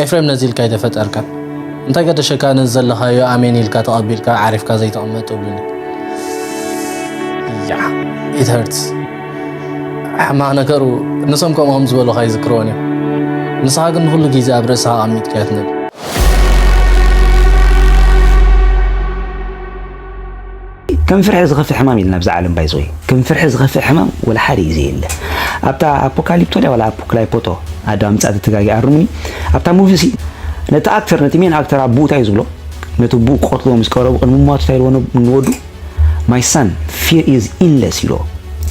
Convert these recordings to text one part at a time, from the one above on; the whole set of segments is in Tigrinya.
ኤፍሬም ነዚ ኢልካ ኣይተፈጠርካን እንታይ ገደሸካ ነዚ ዘለኻዮ ኣሜን ኢልካ ተቐቢልካ ዓሪፍካ ዘይተቐመጥ እብሉኒ ያ ኢት ሀርትስ ሕማቕ ነገሩ ንሶም ከምኡ ከም ዝበሉኻ ይዝክርዎን እዮም ንስኻ ግን ንኹሉ ግዜ ኣብ ርእስኻ ኣቐሚጥካ ትነብር ከም ፍርሒ ዝኸፍእ ሕማም የለን ኣብዛ ዓለም ባይ ዘወይ ከም ፍርሒ ዝኸፍእ ሕማም ወላ ሓደ እዩ ዘየለ ኣብታ ኣፖካሊፕቶ ድያ ዋላ ኣፖክላይፖቶ ኣዶ ኣምጻእቲ ተጋጊ ኣርሙኒ ኣብታ ሙቪ ሲ ነቲ ኣክተር ነቲ ሜን ኣክተር ኣቦኡ እንታይ ዝብሎ ነቲ ኣቦኡ ክቐትልዎ ምስ ቀረቡ ቅድሚ ሟቱ እንታይ ኢልዎ ንወዱ ማይ ሳን ፊር ኢዝ ኢንለስ ኢልዎ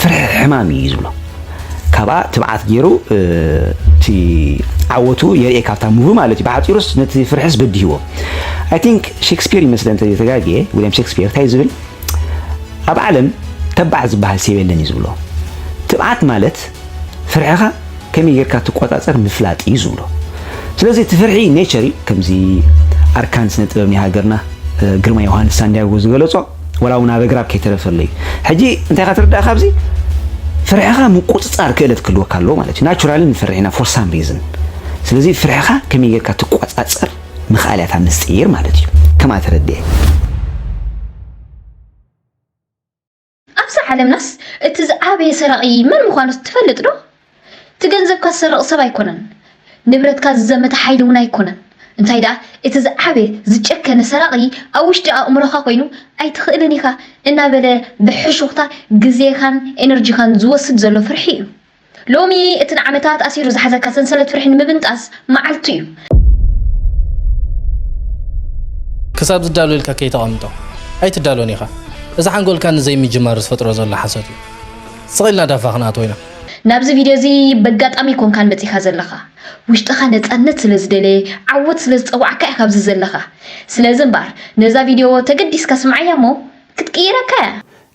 ፍርሒ ሕማም እዩ ዝብሎ ካብኣ ትብዓት ጌሩ እቲ ዓወቱ የርኤ ካብታ ሙቪ ማለት እዩ ብሓፂሩስ ነቲ ፍርሕስ በዲህዎ ኣይ ቲንክ ሼክስፒር ይመስለ እንተ ተጋጌ ዊልያም ሼክስፒር እንታይ ዝብል ኣብ ዓለም ተባዕ ዝበሃል ሰብ የለን እዩ ዝብሎ ትብዓት ማለት ፍርሕኻ ከመይ ጌርካ ትቆፃፀር ምፍላጥ እዩ ዝብሎ ስለዚ እቲ ፍርሒ ኔቸር እዩ ከምዚ ኣርካን ስነ ጥበብ ናይ ሃገርና ግርማ ዮሃንስ ሳንዲያጎ ዝገለፆ ወላ ውን ኣብ ኣግራብ ከይተረፈለይ እዩ ሕጂ እንታይ ኢካ ትርዳእ ካብዚ ፍርሕካ ምቁጽጻር ክእለት ክህልወካ ኣለዎ ማለት እዩ ናቹራሊ ንፈርሕ ኢና ፎር ሳም ሪዝን ስለዚ ፍርሕካ ከመይ ጌርካ ትቆጻጸር ምክኣል እያ እታ ምስጢር ማለት እዩ ከምኣ ተረድኤ ኣብዛ ዓለምናስ እቲ ዝዓበየ ሰራቒ መን ምዃኑ ትፈልጥ ዶ? እቲ ገንዘብካ ዝሰርቕ ሰብ ኣይኮነን፣ ንብረትካ ዝዘመተ ሓይሊ እውን ኣይኮነን፣ እንታይ ደኣ እቲ ዝዓበየ ዝጨከነ ሰራቒ ኣብ ውሽጢ ኣእምሮኻ ኮይኑ ኣይትኽእልን ኢኻ እናበለ ብሕሹኽታ ግዜኻን ኤነርጂኻን ዝወስድ ዘሎ ፍርሒ እዩ። ሎሚ እቲ ንዓመታት ኣሲሩ ዝሓዘካ ሰንሰለት ፍርሒ ንምብንጣስ መዓልቱ እዩ። ክሳብ ዝዳሎ ኢልካ ከይተቐምጦ ኣይትዳሎን ኢኻ። እዚ ሓንጎልካ ንዘይምጅማር ዝፈጥሮ ዘሎ ሓሶት እዩ። ስቕ ኢልና ዳፋ ክንኣትዎ ኢና። ናብዚ ቪድዮ እዚ በጋጣሚ ኣይኮንካን መጺካ ዘለካ ውሽጥካ ነጻነት ስለ ዝደለየ ዓወት ስለ ዝጸውዓካ ኢካ ኣብዚ ዘለካ ስለዚ እምበኣር ነዛ ቪድዮ ተገዲስካ ስምዓያ እሞ ክትቅይረካ ኢያ።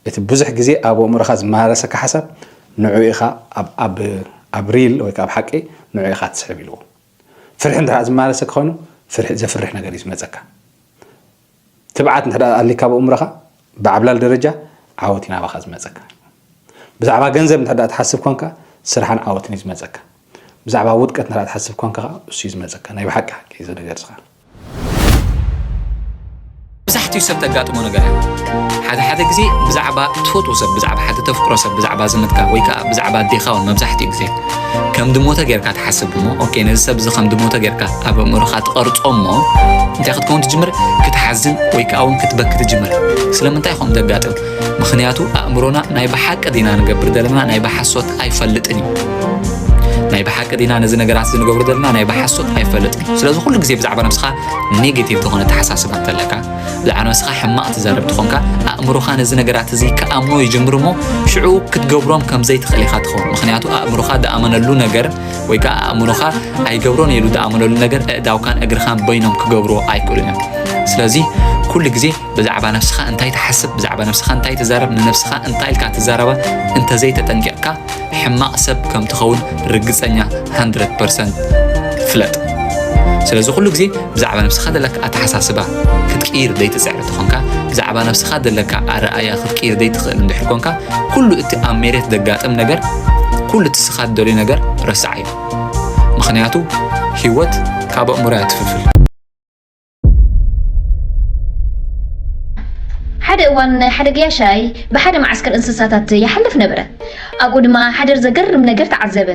እቲ ብዙሕ ግዜ ኣብ ኣእምሮኻ ዝመላለሰካ ሓሳብ ንዕኡ ኢኻ ኣብ ኣብ ሪል ወይ ከኣ ኣብ ሓቂ ንዕኡ ኢኻ ትስሕብ ኢልዎ። ፍርሒ እንድሕር ዝመላለሰካ ኮይኑ ፍርሒ ዘፍርሕ ነገር እዩ ዝመጸካ። ትብዓት እንተ ኣልካ ኣብ ኣእምሮኻ ብዓብላል ደረጃ ዓወት እዩ ናባኻ ዝመጸካ። ብዛዕባ ገንዘብ እንተ ትሓስብ ኮንካ ስራሕን ዓወትን እዩ ዝመጸካ። ብዛዕባ ውድቀት እንተ ትሓስብ ኮንካ ከኣ እሱ እዩ ዝመጸካ። ናይ ብሓቂ ሓቂ እዚ ነገር እዚ ከኣ መብዛሕትኡ ሰብ ተጋጥሞ ነገር እያ ሓደ ሓደ ግዜ ብዛዕባ ትፈትዎ ሰብ ብዛዕባ ሓደ ተፍቅሮ ሰብ ብዛዕባ ዝምድካ ወይ ከዓ ብዛዕባ ኣዴኻ እውን መብዛሕትኡ ግዜ ከም ድሞተ ጌርካ ትሓስብ እሞ ኦኬ ነዚ ሰብ እዚ ከም ድሞተ ጌርካ ኣብ ኣእምሮኻ ትቐርጾ እሞ እንታይ ክትከውን ትጅምር ክትሓዝን ወይ ከዓ እውን ክትበኪ ትጅምር ስለምንታይ ከምኡ ዘጋጥም ምክንያቱ ኣእምሮና ናይ ብሓቂ ዲና ንገብር ዘለና ናይ ብሓሶት ኣይፈልጥን እዩ ናይ ብሓቂ ዲና ነዚ ነገራት እዚ ንገብሮ ዘለና ናይ ብሓሶት ኣይፈልጥን እዩ ስለዚ ኩሉ ግዜ ብዛዕባ ነብስኻ ኔጌቲቭ ዝኾነ ተሓሳስባ እንተለካ ዝዓነስኻ ሕማቕ ትዛረብ ትኾንካ ኣእምሮኻ ነዚ ነገራት እዚ ክኣምኖ ይጅምር እሞ ሽዑ ክትገብሮም ከም ዘይትኽእል ኢኻ ትኸውን ምክንያቱ ኣእምሮኻ ዝኣመነሉ ነገር ወይ ከዓ ኣእምሮኻ ኣይገብሮን ኢሉ ዝኣመነሉ ነገር እእዳውካን እግርኻን በይኖም ክገብሮ ኣይክእሉን እዮም ስለዚ ኩሉ ግዜ ብዛዕባ ነፍስኻ እንታይ ትሓስብ ብዛዕባ ነፍስኻ እንታይ ትዛረብ ንነፍስኻ እንታይ ኢልካ ትዛረባ እንተዘይተጠንቂቕካ ሕማቅ ሰብ ከም ትኸውን ርግጸኛ ሃንድረድ ፐርሰንት ፍለጥ። ስለዚ ኩሉ ግዜ ብዛዕባ ነብስኻ ዘለካ ኣተሓሳስባ ክትቅይር ዘይትጽዕር እንተኾንካ ብዛዕባ ነብስኻ ዘለካ ኣረኣያ ክትቅይር ዘይትኽእል እንድሕር ኮንካ ኩሉ እቲ ኣብ ሜሬት ዘጋጥም ነገር ኩሉ እቲ ስኻ ትደልዩ ነገር ረስዓዮ ምኽንያቱ ህይወት ካብ ኣእምሮያ ትፍልፍል ሓደ እዋን ሓደ ገያሻይ ብሓደ መዓስከር እንስሳታት ይሓልፍ ነበረ። ኣብኡ ድማ ሓደ ዘገርም ነገር ተዓዘበ።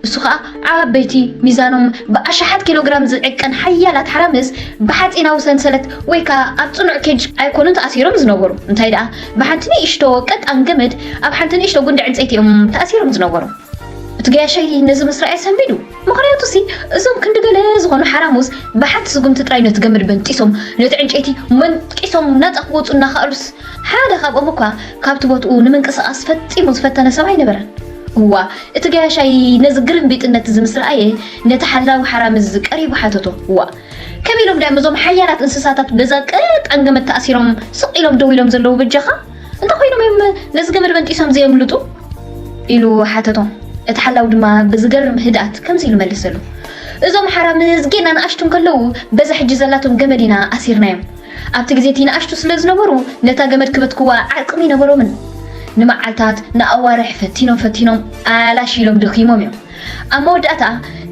እሱ ከዓ ዓበይቲ ሚዛኖም ብኣሽሓት ኪሎግራም ዝዕቀን ሓያላት ሓራምዝ ብሓፂናዊ ሰንሰለት ወይ ከዓ ኣብ ፅኑዕ ኬጅ ኣይኮኑን ተኣሲሮም ዝነበሩ እንታይ ደኣ ብሓንቲ ንእሽቶ ቀጣን ገመድ ኣብ ሓንቲ ንእሽቶ ጉንዲ ዕንፀይቲ እዮም ተኣሲሮም ዝነበሩ እቲ ገያሸይ ነዚ ምስ ረኣየ ሰንቢዱ ምኽንያቱሲ እዞም ክንዲ ገለ ዝኾኑ ሓራሙዝ ብሓንቲ ስጉምቲ ጥራይ ነቲ ገመድ በንጢሶም ነቲ ዕንጨይቲ መንጢሶም ናጻ ክወጹ እናኸኣሉስ ሓደ ካብኦም እኳ ካብቲ ቦትኡ ንምንቅስቓስ ፈጺሙ ዝፈተነ ሰብ ኣይነበረን። እዋ እቲ ገያሻይ ነዚ ግርምቢጥነትዚ ምስ ረኣየ ነቲ ሓላዊ ሓራምዝ ቀሪቡ ሓተቶ እዋ ከመይ ኢሎም ድያም እዞም ሓያላት እንስሳታት በዛ ቀጣን ገመድ ተኣሲሮም ስቕ ኢሎም ደው ኢሎም ዘለዉ በጃኻ እንታይ ኮይኖም እዮም ነዚ ገመድ በንጢሶም ዘየምልጡ ኢሉ ሓተቶም እቲ ሓላዊ ድማ ብዝገርም ህድኣት ከምዚ ኢሉ መለሰሉ እዞም ሓራምዝ ጌና ንኣሽቱ እንከለዉ በዛ ሕጂ ዘላቶም ገመድ ኢና ኣሲርናዮም ኣብቲ ግዜ እቲ ንኣሽቱ ስለ ዝነበሩ ነታ ገመድ ክበትክዋ ዓቅሚ ኣይነበሮምን ንመዓልታት ንኣዋርሕ ፈቲኖም ፈቲኖም ኣላሽ ኢሎም ደኺሞም እዮም ኣብ መወዳእታ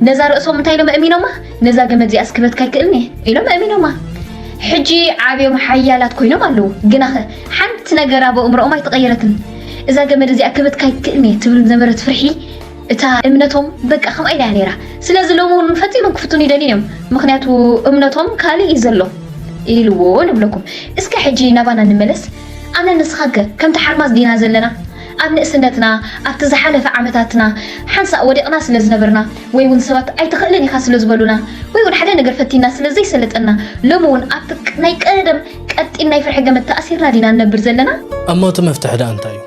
ነዛ ርእሶም እንታይ ኢሎም ኣእሚኖማ ነዛ ገመድ እዚኣ ስክበትካ ኣይክእልኒ ኢሎም ኣእሚኖማ ሕጂ ዓብዮም ሓያላት ኮይኖም ኣለዉ ግናኸ ሓንቲ ነገር ኣብ እምሮኦም ኣይተቐየረትን እዛ ገመድ እዚኣ ክብትካ ኣይክእልኒ ትብል ዝነበረት ፍርሒ እታ እምነቶም በቃ ከምኣ ኢላ ነይራ ስለዚ ሎሚ እውን ፈፂሞም ክፍትኑ ይደልዩ እዮም ምክንያቱ እምነቶም ካልእ እዩ ዘሎ ኢልዎ ንብለኩም እስከ ሕጂ ናባና ንመለስ ኣነ ንስኻከ ከምቲ ሓርማዝ ዲና ዘለና ኣብ ንእስነትና፣ ኣብቲ ዝሓለፈ ዓመታትና፣ ሓንሳእ ወዲቕና ስለ ዝነበርና፣ ወይ ውን ሰባት ኣይትኽእልን ኢኻ ስለ ዝበሉና፣ ወይ ውን ሓደ ነገር ፈቲንና ስለ ዘይሰለጠና፣ ሎሚ ውን ኣብቲ ናይ ቀደም ቀጢን ናይ ፍርሒ ገመድ ተኣሲርና ዲና ንነብር ዘለና? እሞ እቲ መፍትሒ ደኣ እንታይ እዩ?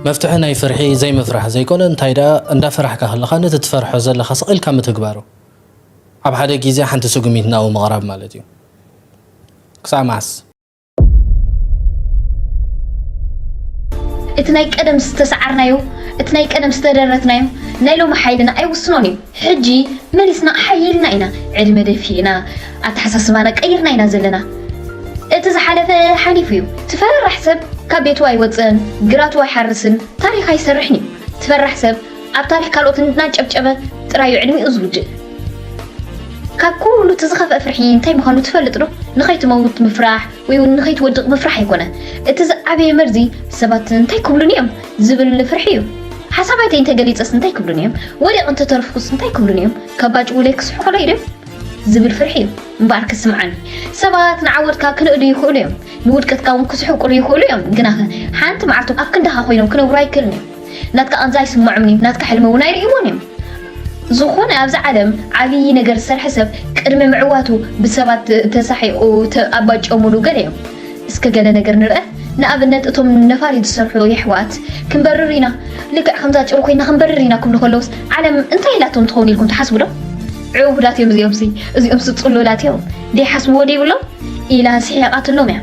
መፍትሒ ናይ ፍርሒ ዘይምፍራሕ ዘይኮነ፣ እንታይ ደኣ እንዳፈራሕካ ከለኻ ነቲ ትፈርሖ ዘለኻ ስቕ ኢልካ ምትግባሩ። ኣብ ሓደ ግዜ ሓንቲ ስጉሚት ናብኡ ምቕራብ ማለት እዩ። ክሳዕ መዓስ? እቲ ናይ ቀደም ዝተሰዓርናዮ እቲ ናይ ቀደም ዝተደረትናዮ ናይ ሎሚ ሓይልና ኣይውስኖን እዩ ሕጂ መሊስና ሓይልና ኢና ዕድመ ደፊእና ኣተሓሳስባና ቀይርና ኢና ዘለና እቲ ዝሓለፈ ሓሊፉ እዩ ትፈራራሕ ሰብ ካብ ቤቱ ኣይወፅእን ግራቱ ኣይሓርስን ታሪክ ኣይሰርሕን እዩ ትፈራሕ ሰብ ኣብ ታሪክ ካልኦት እናጨብጨበ ጥራዩ ዕድሚኡ ዝውድእ። ካብ ኩሉ እቲ ዝኸፍአ ፍርሒ እንታይ ምዃኑ ትፈልጥ ዶ? ንኸይትመውት ምፍራሕ ወይ እውን ንኸይትወድቕ ምፍራሕ ኣይኮነ። እቲ ዝዓበየ መርዚ ሰባት እንታይ ክብሉኒ እዮም ዝብል ፍርሒ እዩ። ሓሳባተይ እንተገሊጸስ እንታይ ክብሉኒ እዮም? ወዲቕ እንተተረፍኩስ እንታይ ክብሉኒ እዮም? ከባጭውለይ ክስሕቑለይ ዶ ዝብል ፍርሒ እዩ እምበኣር ክስምዓኒ። ሰባት ንዓወትካ ክንእዱ ይኽእሉ እዮም፣ ንውድቀትካ እውን ክስሕቁሉ ይኽእሉ እዮም። ግናኸ ሓንቲ መዓልቲ ኣብ ክንዳኻ ኮይኖም ክነብሩ ኣይክእሉን እዮም። ናትካ ቃንዛ ኣይስመዖምን እዩ ናትካ ሕልሚ እውን ኣይርእይዎን እዮም ዝኾነ ኣብዚ ዓለም ዓብዪ ነገር ዝሰርሐ ሰብ ቅድሚ ምዕዋቱ ብሰባት ተሳሒቑ ኣባጨሙሉ ገለ እዮም እስከ ገለ ነገር ንርአ ንኣብነት እቶም ነፋሪት ዝሰርሑ የሕዋት ክንበርር ኢና ልክዕ ከምዛ ጭሩ ኮይና ክንበርር ኢና ክብሉ ከለውስ ዓለም እንታይ ኢላቶም ትኸውን ኢልኩም ትሓስቡ ዶ ዕውዳት እዮም እዚኦምሲ እዚኦምሲ ፅሉላት እዮም ዘይሓስብዎ ዘይብሎም ኢላ ስሒቓትሎም እያ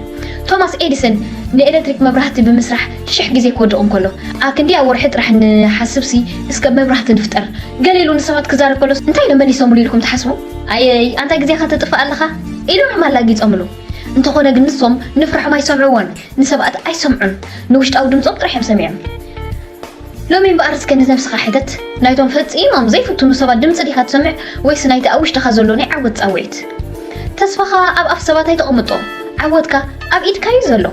ቶማስ ኤዲሰን ንኤሌክትሪክ መብራህቲ ብምስራሕ ሽሕ ግዜ ክወድቕ እንከሎ ኣብ ክንደያ ወርሒ ጥራሕ እንሓስብሲ እስከ መብራህቲ ንፍጠር። ገለ ኢሉ ንሰባት ክዛረብ ከሎስ እንታይ ኢሎም መሊሶምሉ ኢልኩም ትሓስቡ? ኣይይ ኣንታይ ግዜኻ ተጥፍእ ኣለኻ ኢሎምም ኣላጊጾምሉ። እንተኾነ ግን ንሶም ንፍርሖም ኣይሰምዕዎን ንሰብኣት ኣይሰምዑን ንውሽጣዊ ድምጾም ጥራሕ እዮም ሰሚዖም። ሎሚ እምበኣር እስከ ንነብስኻ ሕተት ናይቶም ፈጺሞም ዘይፍትኑ ሰባት ድምጺ ዲኻ ትሰምዕ ወይስ ናይቲ ኣብ ውሽጥኻ ዘሎ ናይ ዓወት ጻውዒት? ተስፋኻ ኣብ ኣፍ ሰባት ኣይተቐምጦ ዓወትካ ኣብ ኢድካ እዩ ዘሎ።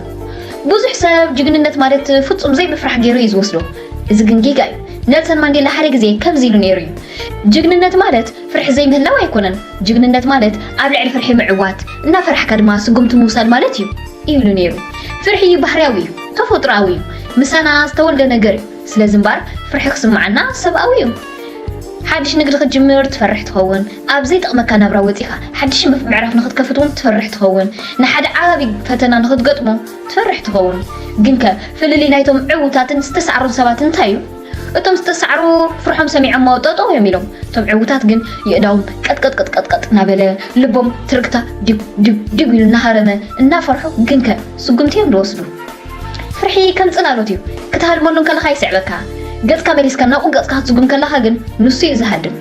ብዙሕ ሰብ ጅግንነት ማለት ፍጹም ዘይምፍራሕ ገይሩ እዩ ዝወስዶ፣ እዚ ግን ጌጋ እዩ። ነልሰን ማንዴላ ሓደ ግዜ ከምዚ ኢሉ ነይሩ እዩ፣ ጅግንነት ማለት ፍርሒ ዘይምህላው ኣይኮነን፣ ጅግንነት ማለት ኣብ ልዕሊ ፍርሒ ምዕዋት፣ እናፈራሕካ ድማ ስጉምቲ ምውሳድ ማለት እዩ ኢሉ ነይሩ። ፍርሒ ባህርያዊ እዩ፣ ተፈጥሮኣዊ እዩ፣ ምሳና ዝተወልደ ነገር እዩ። ስለዚ እምበኣር ፍርሒ ክስምዓና ሰብኣዊ እዩ። ሓድሽ ንግዲ ክትጅምር ትፈርሕ ትኸውን፣ ኣብ ዘይጠቕመካ ናብራ ወጺኻ ሓድሽ ምዕራፍ ንኽትከፍት እውን ትፈርሕ ትኸውን፣ ንሓደ ዓቢ ፈተና ንኽትገጥሞ ትፈርሕ ትኸውን። ግንከ ፍልልይ ናይቶም ዕዉታትን ዝተሳዕሩን ሰባት እንታይ እዩ? እቶም ዝተሳዕሩ ፍርሖም ሰሚዖሞ ጠጠው እዮም ኢሎም፣ እቶም ዕዉታት ግን የእዳዎም ቀጥቀጥቅጥቅጥቅጥ እናበለ፣ ልቦም ትርግታ ዲጉ ዲጉ ዲጉ ኢሉ እናሃረመ፣ እናፈርሑ ግንከ ስጉምቲ እዮም ዝወስዱ። ፍርሒ ከም ጽላሎት እዩ፣ ክትሃድመሉ እንከለኻ ይስዕበካ፣ ገጽካ መሊስካ ናብኡ ገጽካ ክትስጉም ከለኻ ግን ንሱ እዩ ዝሃድም።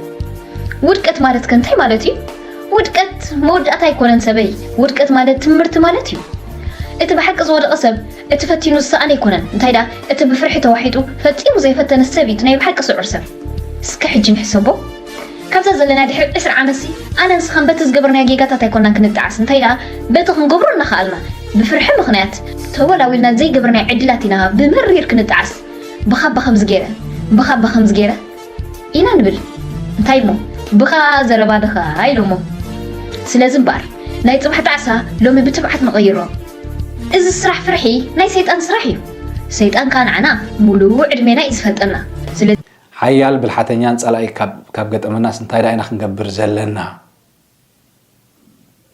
ውድቀት ማለት ከ እንታይ ማለት እዩ? ውድቀት መወዳእታ ኣይኮነን ሰበይ፣ ውድቀት ማለት ትምርቲ ማለት እዩ። እቲ ብሓቂ ዝወደቐ ሰብ እቲ ፈቲኑ ዝሰኣነ ኣይኮነን፣ እንታይ ደኣ እቲ ብፍርሒ ተዋሒጡ ፈጺሙ ዘይፈተነ ሰብ እዩ እቲ ናይ ብሓቂ ስዑር ሰብ። እስከ ሕጂ ንሕሰቦ። ካብዛ ዘለና ድሕሪ ዕስራ ዓመትሲ ኣነ ንስኻን በቲ ዝገበርናዮ ጌጋታት ኣይኮናን ክንጠዓስ እንታይ ደኣ በቲ ክንገብሮ እናኸኣልና ብፍርሒ ምኽንያት ተወላው ኢልና ዘይገበርናዮ ዕድላት ኢና ብመሪር ክንጠዓስ ብኻባ ከምዚ ገይረ ብኻባ ከምዚ ገይረ ኢና ንብል እንታይ እሞ ብኻ ዘረባ ድኻ ኢሎሞ ስለዚ እምበኣር ናይ ፅባሕ ጣዕሳ ሎሚ ብትብዓት ንቐይሮ እዚ ስራሕ ፍርሒ ናይ ሰይጣን ስራሕ እዩ ሰይጣን ከዓ ንዓና ሙሉእ ዕድሜና እዩ ዝፈልጠና ሓያል ብልሓተኛን ጸላኢ ካብ ገጠመናስ እንታይ ደኣ ኢና ክንገብር ዘለና?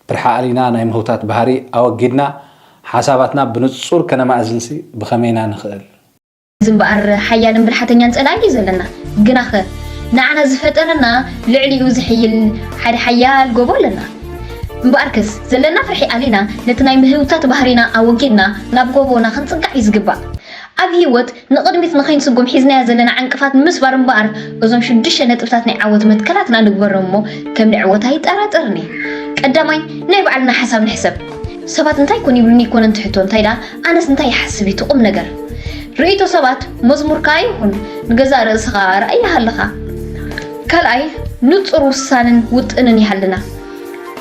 ብርሐ ኣሊና ናይ ምህውታት ባህሪ ኣወጊድና ሓሳባትና ብንጹር ከነማእዝንሲ ብኸመይ ኢና ንኽእል? እዚ እምበኣር ሓያልን ብልሓተኛን ጸላኢ እዩ ዘለና። ግናኸ ንዓና ዝፈጠረና ልዕሊኡ ዝሕይል ሓደ ሓያል ጎቦ ኣለና። እምበኣርከስ ዘለና ፍርሒ ኣሊና ነቲ ናይ ምህውታት ባህሪና ኣወጊድና ናብ ጎቦና ክንጽጋዕ እዩ ዝግባእ። ኣብ ህይወት ንቕድሚት ንኸይንስጉም ሒዝናዮ ዘለና ዕንቅፋት ንምስባር እምበኣር እዞም ሽዱሽተ ነጥብታት ናይ ዓወት መትከላትና ንግበሮም እሞ ከም ንዕወት ኣይጠራጠርን እየ። ቀዳማይ፣ ናይ ባዕልና ሓሳብ ንሕሰብ። ሰባት እንታይ ኮን ይብሉኒ ኣይኮነን እቲ ሕቶ፣ እንታይ ደኣ ኣነስ እንታይ ይሓስብ እዩ እቲ ቁም ነገር። ርእይቶ ሰባት መዝሙር ከኣ ይኹን፣ ንገዛእ ርእስኻ ኣርኣያ ሃልኻ። ካልኣይ፣ ንጹር ውሳነን ውጥንን ይሃልና።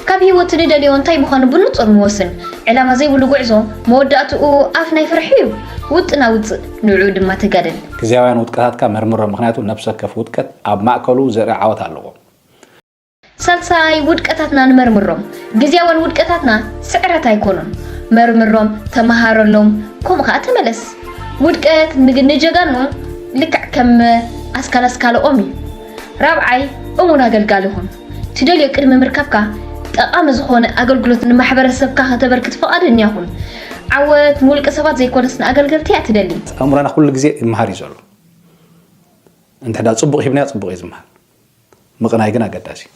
ካብ ሂወት ንደልዮ እንታይ ምዃኑ ብንጹር ንወስን። ዕላማ ዘይብሉ ጉዕዞ መወዳእትኡ ኣፍ ናይ ፍርሒ'ዩ። ውጥን ኣውጽእ፣ ንዕኡ ድማ ተጋደል። ግዝያውያን ውድቀታትካ መርምሮም፣ ምኽንያቱ ነብሲ ወከፍ ውድቀት ኣብ ማእከሉ ዘርኢ ዓወት ኣለዎ። ሳልሳይ፣ ውድቀታትና ንመርምሮም፣ ግዝያውያን ውድቀታትና ስዕረት ኣይኮኑን። መርምሮም፣ ተመሃረሎም፣ ከምኡ ከኣ ተመለስ። ውድቀት ንጀጋኑ ልክዕ ከም ኣስካል ኣስካለ ኦም'ዩ። ራብዓይ፣ እሙን ኣገልጋሊ ኩን። ትደልዮ ቅድሚ ምርካብካ ጠቓሚ ዝኾነ ኣገልግሎት ንማሕበረሰብካ ከተበርክት ፍቓደኛ ኩን። ዓወት ንውልቀ ሰባት ዘይኮነስ ንኣገልገልቲ እያ ትደሊ። ኣእምሮና ኩሉ ግዜ ይመሃር እዩ ዘሎ። እንተዳ ጽቡቕ ሂብናዮ ጽቡቕ እዩ ዝመሃር። ምቕናይ ግን ኣገዳሲ እዩ።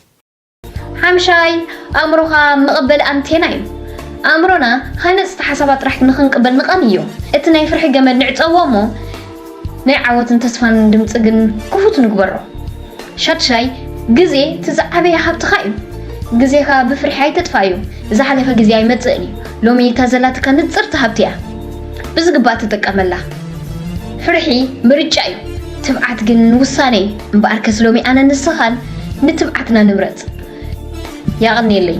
ሓምሻይ ኣእምሮኻ መቐበሊ ኣንቴና እዩ። ኣእምሮና ሃነጽቲ ሓሳባት ጥራሕ ንኽንቅበል ንቐንዮ። እቲ ናይ ፍርሒ ገመድ ንዕጸዎ እሞ፣ ናይ ዓወትን ተስፋን ድምፂ ግን ክፉት ንግበሮ። ሻድሻይ፣ ግዜ እቲ ዝዓበየ ሃብትኻ እዩ። ግዜኻ ብፍርሒ ኣይተጥፍኣዮ። ዝሓለፈ ግዜ ኣይመፅእን እዩ። ሎሚ እታ ዘላትካ ንፅርቲ ሃብቲ እያ። ብዝግባእ ተጠቀመላ። ፍርሒ ምርጫ እዩ፣ ትብዓት ግን ውሳነ እዩ። እምበኣርከስ ሎሚ ኣነን ንስኻን ንትብዓትና ንምረፅ። የቐንየለይ።